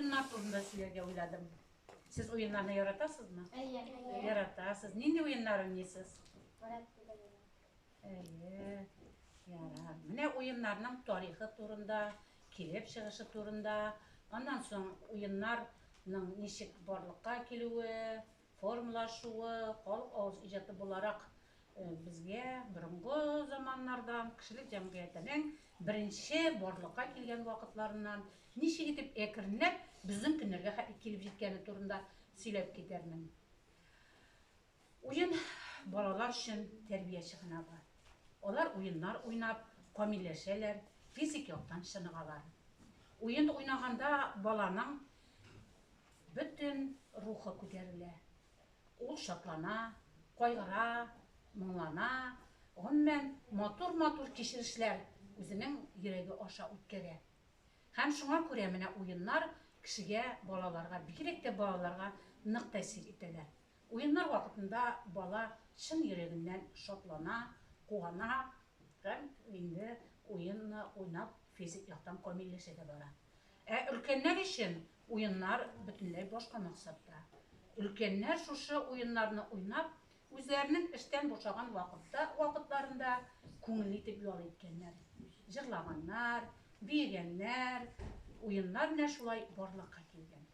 Уеннар турында сөйләргә уйладым. Сез уеннарны яратасызмы? Әйе. Яратасыз. Нинди уеннар уйныйсыз? Әйе. Ярар. Менә уеннарның тарихы турында, килеп чыгышы турында, аннан соң уеннарның ничек барлыкка килүе, формалашуы, халык авыз иҗаты буларак безгә борынгы заманнардан, кешелек җәмгыятенең беренче барлыкка килгән вакытларыннан ничек итеп әкренләп безнең көннәргә хәтле килеп җиткәне турында сөйләп китәрмен. Уен балалар өчен тәрбия чыганагы. Алар уеннар уйнап, камилләшәләр, физик яктан чыныгалар. Уен уйнаганда баланың Бөтен рухы күтәрелә. Ул шатлана, кайгыра, моңлана, гомумән, матур-матур кичерешләр үзенең йөрәге аша үткәрә. Һәм шуңа күрә менә уеннар кешегә, балаларга, бигрәк тә балаларга нык тәэсир итәләр. Уеннар вакытында бала чын йөрәгеннән шатлана, куана һәм инде уенны уйнап физик яктан камилләшә дә бара. Ә өлкәннәр өчен Уеннар бөтенләй башка максатта. Өлкәннәр шушы уеннарны уйнап, үзләренең эштән бушаган вакытта вакытларында күңелле итеп ял иткәннәр. Җырлаганнар, биегәннәр, уеннар менә шулай барлыкка килгән.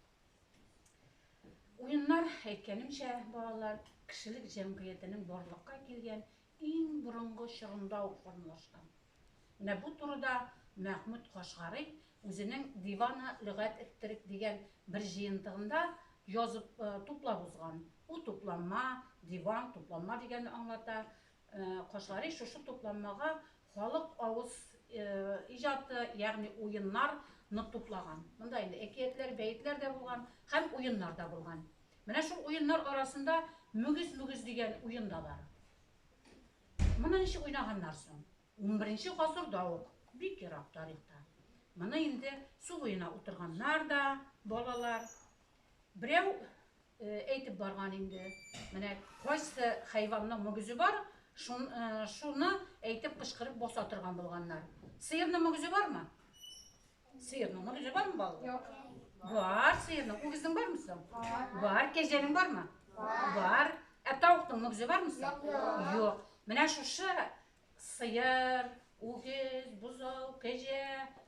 Уеннар, әйткәнемчә, балалар, кешелек җәмгыятенең барлыкка килгән Иң борынгы чорында ук формалашкан. Менә бу турыда Мәхмүт Кашгари үзенең Дивана лөгать эттерик дигән бер җыентыгында язып, туплап узган. Бу тупланма, диван, тупланма дигәнне аңлата. Кашгари шушы тупланмага халык авыз иҗаты, ягъни уеннар ны туплаган. Монда инде әкиятләр, бәетләр дә булган һәм уеннар да булган. Менә шул уеннар арасында мөгез-мөгез дигән уен да бар. Моны ничек уйнаганнар соң? Унберенче гасырда ук, бик ерак тарихта. Моны инде су буена утырганнар да, балалар. Берәү әйтеп барган инде, менә кайсы хайванның мөгезе бар, шуны әйтеп кычкырып баса торган булганнар. Сыерның мөгезе бармы? Сыерның мөгезе бармы балалар? Юк. Бар сыерның. Үгезнең бармы соң? Бар. Бар. Кәҗәнең бармы? Бар. Бар. Ә тавыкның мөгезе бармы соң? Юк. Юк. Менә шушы сыер, үгез, бозау, кәҗә,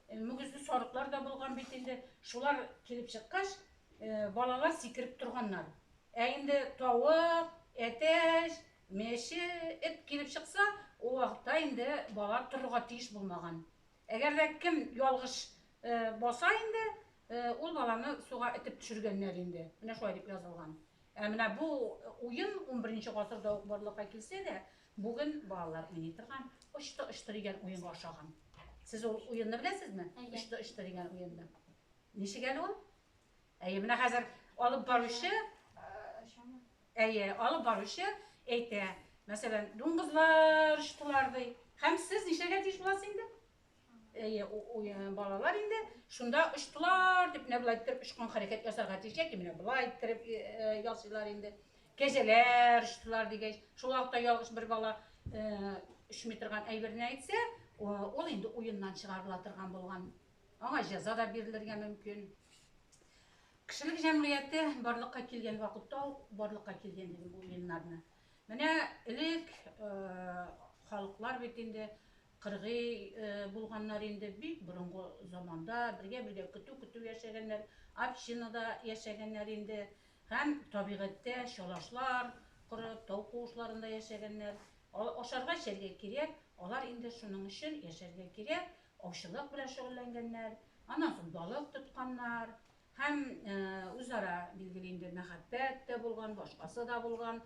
э, мөгезле сарыклар да булган бит инде. Шулар килеп чыккач, э, балалар сикереп торганнар. Ә инде тавык, әтәч, мәче, эт килеп чыкса, ул вакытта инде балалар торырга тиеш булмаган. Әгәр дә кем ялгыш баса инде, ул баланы суга этеп төшергәннәр инде. Менә шулай дип язылган. Ә менә бу уен 11 гасырда ук барлыкка килсә дә, бүген балалар уйный торган очты-очты дигән уенга ошаган. Сез ул уенны беләсезме? Очты-очты дигән уенны. Ничек әле ул? Әйе, менә хәзер алып баручы, әйе, алып баручы әйтә, мәсәлән, дуңгызлар очтылар ди. Һәм сез ничәгә тиеш буласыз инде? Әйе, э, балалар инде шунда очтылар дип менә болай иттереп очкан хәрәкәт ясарга тиеш яки менә болай иттереп э, э, ясыйлар инде. Кәҗәләр очтылар дигәч, шул вакытта ялгыш бер бала очмый торган әйберне әйтсә, ул инде уеннан чыгарыла торган булган Аңа җәза да бирелергә мөмкин. Кешелек җәмгыяте барлыкка килгән вакытта ук барлыкка килгән инде бу уеннарны. Менә элек халыклар бит инде кыргый булганнар инде, бик борынгы заманда бергә-бергә көтү-көтү яшәгәннәр, общинада яшәгәннәр инде һәм табигатьтә чалашлар корып, тау куышларында яшәгәннәр. Ашарга-эчәргә кирәк, алар инде шуның өчен яшәргә кирәк, аучылык белән шөгыльләнгәннәр, аннан соң балык тотканнар һәм үзара, билгеле инде, мәхәббәт тә булган, башкасы да булган,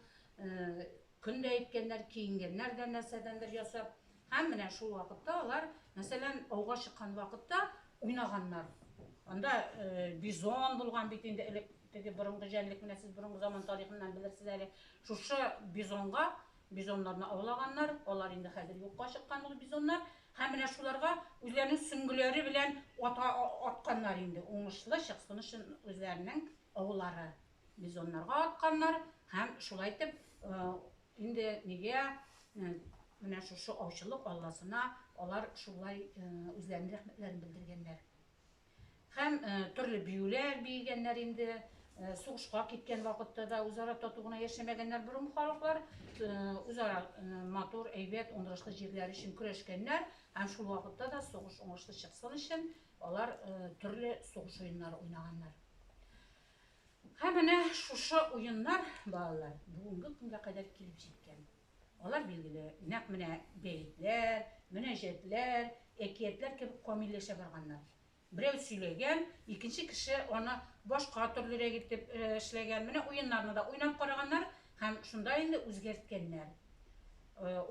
көн дә иткәннәр, киенгәннәр дә нәрсәдәндер ясап. Һәм менә шул вакытта алар, мәсәлән, ауга чыккан вакытта уйнаганнар. Анда бизон булган бит инде элек, теге борынгы җәнлек, менә сез борынгы заман тарихыннан белерсез әле. Шушы бизонга Бизоннарны аулаганнар, алар инде хәзер юкка чыккан ул бизоннар, һәм менә шуларга үзләренең сөңгеләре белән ата атканнар инде уңышлы чыксын өчен үзләренең аулары бизоннарга атканнар һәм шулай итеп инде нигә менә шушы аучылык алласына алар шулай үзләренең рәхмәтләрен белдергәннәр. Һәм төрле биюләр биегәннәр инде, сугышка киткән вакытта да үзара тату гына яшәмәгәннәр борынгы халыклар, үзара матур, әйбәт, уңышлы җирләр өчен көрәшкәннәр һәм шул вакытта да сугыш уңышлы чыксын өчен алар төрле сугыш уеннары уйнаганнар. Һәм менә шушы уеннар, балалар, бүгенге көнгә кадәр килеп җиткән. Алар, билгеле, нәкъ менә бәетләр, мөнәҗәтләр, әкиятләр кебек камилләшә барганнар. Берәү сөйләгән, икенче кеше аны башка төрлерәк итеп эшләгән. Менә уеннарны да уйнап караганнар һәм шунда инде үзгәрткәннәр.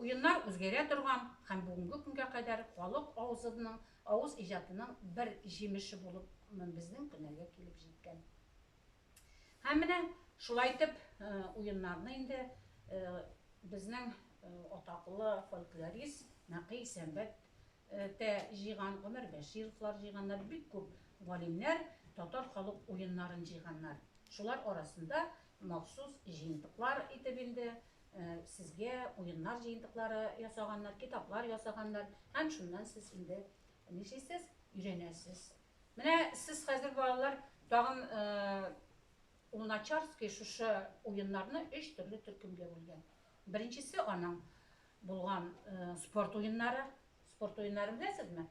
Уеннар үзгәрә торган һәм бүгенге көнгә кадәр халык авызының, авыз иҗатының бер җимеше булып безнең көннәргә килеп җиткән. Һәм менә шулай итеп уеннарны инде безнең атаклы фольклорист Нәкый Сәмбәт тә җыйган, Гомәр Бәшировлар җыйганнар, бик күп галимнәр татар халык уеннарын җыйганнар. Шулар арасында махсус җыентыклар итеп инде сезгә уеннар җыентыклары ясаганнар, китаплар ясаганнар. Һәм шуннан сез инде нишлисез, өйрәнәсез. Менә сез хәзер балалар тагын Луначарский шушы уеннарны өч төрле төркемгә бүлгән. Беренчесе аның булган спорт уеннары. Спорт уеннарын беләсезме?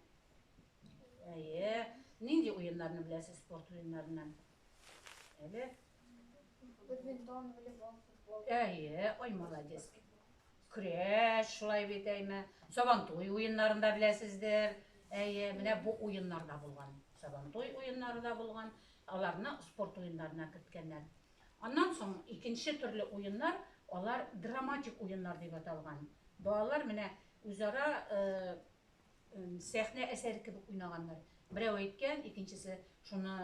Әйе. Нинди уеннарны беләсез спорт уеннарыннан? Әле? Бадминтон, волейбол, футбол. Әйе, ой, молодец. Көрәш, шулай бит, әйме. Сабантуй уеннарын да беләсездер. Әйе, менә бу уеннар да булган. Сабантуй уеннары да булган. Аларны спорт уеннарына керткәннәр. Аннан соң икенче төрле уеннар, алар драматик уеннар дип аталган. Балалар менә үзара сәхнә әсәре кебек уйнаганнар. Берәү әйткән, икенчесе шуны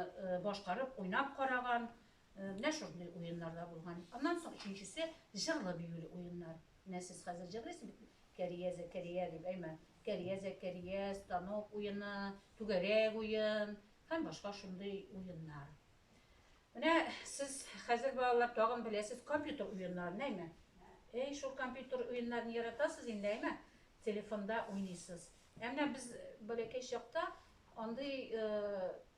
башкарып, уйнап караган. Менә шундый уеннар да булган. Аннан соң өченчесе җырлы-биюле уеннар. Менә сез хәзер җырлыйсыз бит, Кәрия Зәкәрия дип, әйме? Кәрия Зәкәрия, станок уены, түгәрәк уен һәм башка шундый уеннар. Менә сез хәзер балалар тагын беләсез компьютер уеннарын, әйме? Әй, шул компьютер уеннарын яратасыз инде, әйме? Телефонда уйныйсыз. Ә менә без бәләкәй чакта андый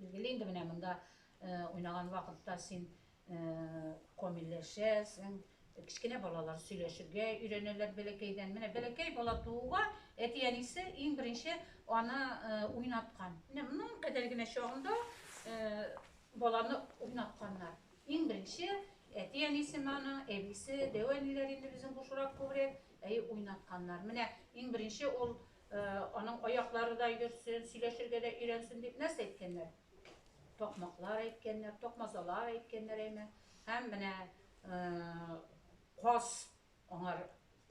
Билгеле инде, менә монда уйнаган вакытта син комилләшәсең, кечкенә балалар сөйләшергә өйрәнәләр бәләкәйдән. Менә бәләкәй бала тууга әти-әнисе иң беренче аны уйнаткан. Менә моның кадәр генә чагында баланы уйнатканнар. Иң беренче әти-әнисе маны, әбисе, дәү әниләр инде безнең бушрак күбрәк, әй уйнатканнар. Менә иң беренче ул Аның аяклары да йөрсен, сөйләшергә дә өйрәнсен дип нәрсә әйткәннәр? Такмаклар әйткәннәр, такмазалар әйткәннәр әйме? Һәм менә каз аңар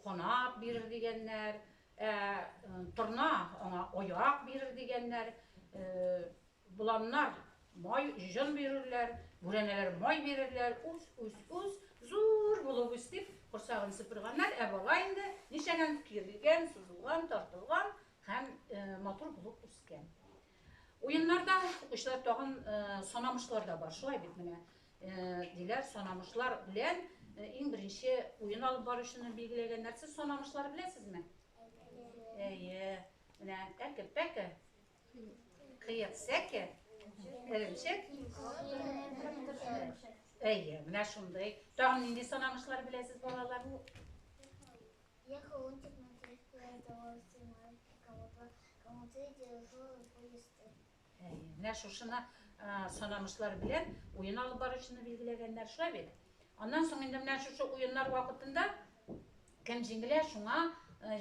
канат бирер дигәннәр, ә торна аңа аяк бирер дигәннәр. Боланнар май, җон бирерләр, бүрәнәләр май бирерләр, үс, үс, үс, зур булып үс, дип, корсагын сыпырганнар, ә бала инде ничәгән кирелгән, сузылган, тартылган һәм матур булып үскән. Уеннарда укучылар тагын санамышлар да бар, шулай бит менә, диләр, санамышлар белән иң беренче уен алып баручыны билгеләгәннәр. Сез санамышлар беләсезме? Әйе. Әйе. Менә әкер-пәкер. Кыек сәке, эремчек. Әйе, менә шундый. Тагын нинди санамышлар беләсез балалар? Я холодчик на тряпку, я давал стеной, кого-то, кому-то я держал поезды. Әйе, менә шушына санамышлар белән уен алып баручыны билгеләгәннәр, шулай бит? Аннан соң инде менә шушы уеннар вакытында кем җиңелә, шуңа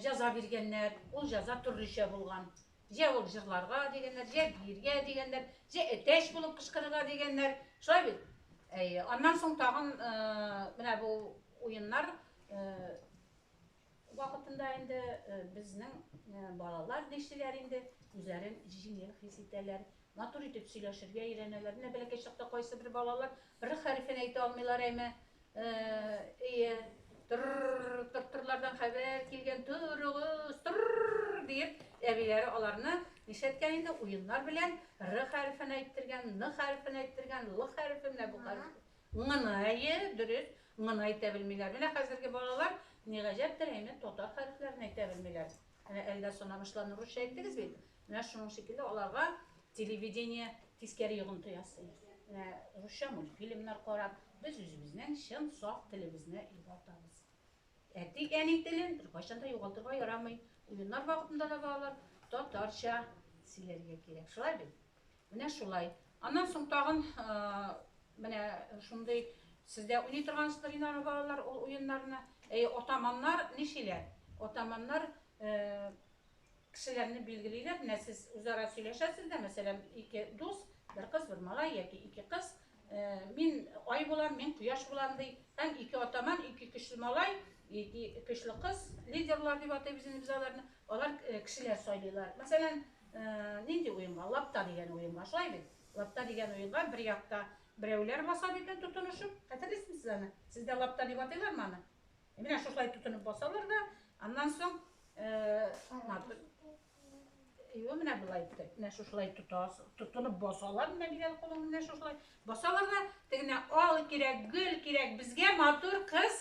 җаза биргәннәр. Ул җаза төрлечә булган. Җә ул җырларга дигәннәр, җә биергә дигәннәр, җә әтәч булып кычкырырга дигәннәр. Шулай бит? Әйе. Аннан соң тагын менә бу уеннар вакытында инде безнең балалар нишлиләр инде, үзләрен җиңел хис итәләр, матур итеп сөйләшергә өйрәнәләр. Менә бәләкәй чакта кайсы бер балалар бер хәрефен әйтә алмыйлар әйме, Эйе, тыр-р-р-р, тыр-тырлардан хәбәр килгән, торыгыз, тыр-р-р-р, диеп, әбиләре аларны нишләткән инде, уеннар белән р хәрефен әйттергән, н хәрефен әйттергән, л хәрефе, менә бу хәреф. Ңны, әйе, дөрес, ңны әйтә белмиләр. Менә хәзерге балалар, ни гаҗәптер, әйме, татар хәрефләрен әйтә белмиләр. Менә әлдә сынамышларны русча әйттегез бит, Менә шуның шикелле аларга телевидение тискәре йогынты ясый. Менә русча мультфильмнар карап, без үзебезнең чын саф телебезне югалтабыз. Әти әни телен беркайчан да югалтырга ярамый. Уеннар вакытында да балалар татарча сөйләргә кирәк. Шулай бит? Менә шулай. Аннан соң тагын менә шундый сездә уйный торгансыздыр инде аны балалар ул уеннарны. Әйе, атаманнар ничиләр? Атаманнар Кешеләрне билгелиләр, менә сез үзара сөйләшәсез дә, мәсәлән, ике дус, бер кыз, бер малай яки ике кыз, мин ай булам, мин кояш булам ди, һәм ике атаман, ике көчле малай, ике көчле кыз, лидерлар дип атыйбыз инде без аларны, алар кешеләр сайлыйлар. Мәсәлән, нинди уенга? Лапта дигән уенга, шулай бит? Лапта дигән уенга бер якта берәүләр баса икән тотынышып, хәтерлисезме сез аны? Сездә лапта дип атыйлармы аны? Менә шушылай тотынып басалар да, аннан соң Ива менә болай итте. Менә шушылай тотас, тотынып басалар менә бигәл кулың менә шушылай. Басалар да тегенә ал кирәк, гөл кирәк, безгә матур кыз.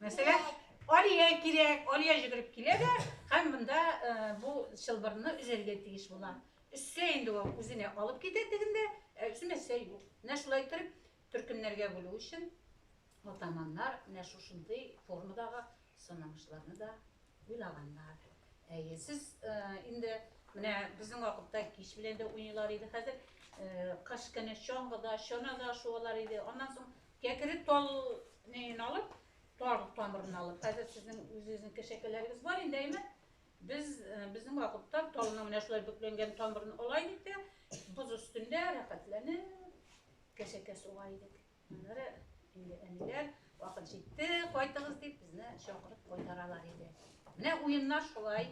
Мәсәлә, Алия кирәк, Алия җигреп килә дә, һәм монда э, бу чылбырны үзәргә тиеш була. Өссә инде ул үзенә алып китә тегендә, ә үзенә сәй юк. Менә шулай итеп төркемнәргә бүлү өчен Атаманнар менә шушындый формадагы санамышларны да уйлаганнар. Әйе, сез инде менә безнең вакытта кич белән дә уйныйлар иде, хәзер кыш көне чаңгыда, чанада шуалар иде. Аннан соң кәкере тал нәен алып, тал тамырын алып, хәзер сезнең үзегезнең кешәкәләрегез бар инде, әйме? Без безнең вакытта талны менә шулай бөкләнгән тамырын алай дип тә, боз өстендә рәхәтләнеп кешәкә суга идек. Аннары инде әниләр, вакыт җитте, кайтыгыз дип, безне чакырып кайтаралар иде. Менә уеннар шулай.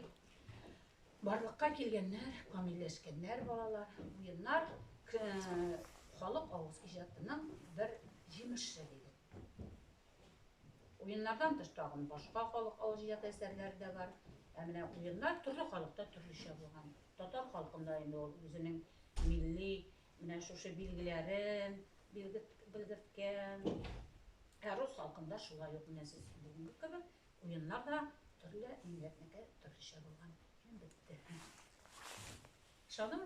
Барлыкка килгәннәр, камилләшкәннәр балалар. Уеннар халык авыз иҗатының бер җимеше диде. Уеннардан тыш тагын башка халык авыз иҗат әсәрләре дә бар. Ә менә уеннар төрле халыкта төрлечә булган. Татар халкында инде ул үзенең милли Менә шушы билгеләрен билгерт, белгерткән. Ә рус халкында шулай ук менә сез бүгенге кебек уеннар да төрле милләтнеке төрлечә булган. Һәм бетте. Ышандыңыз?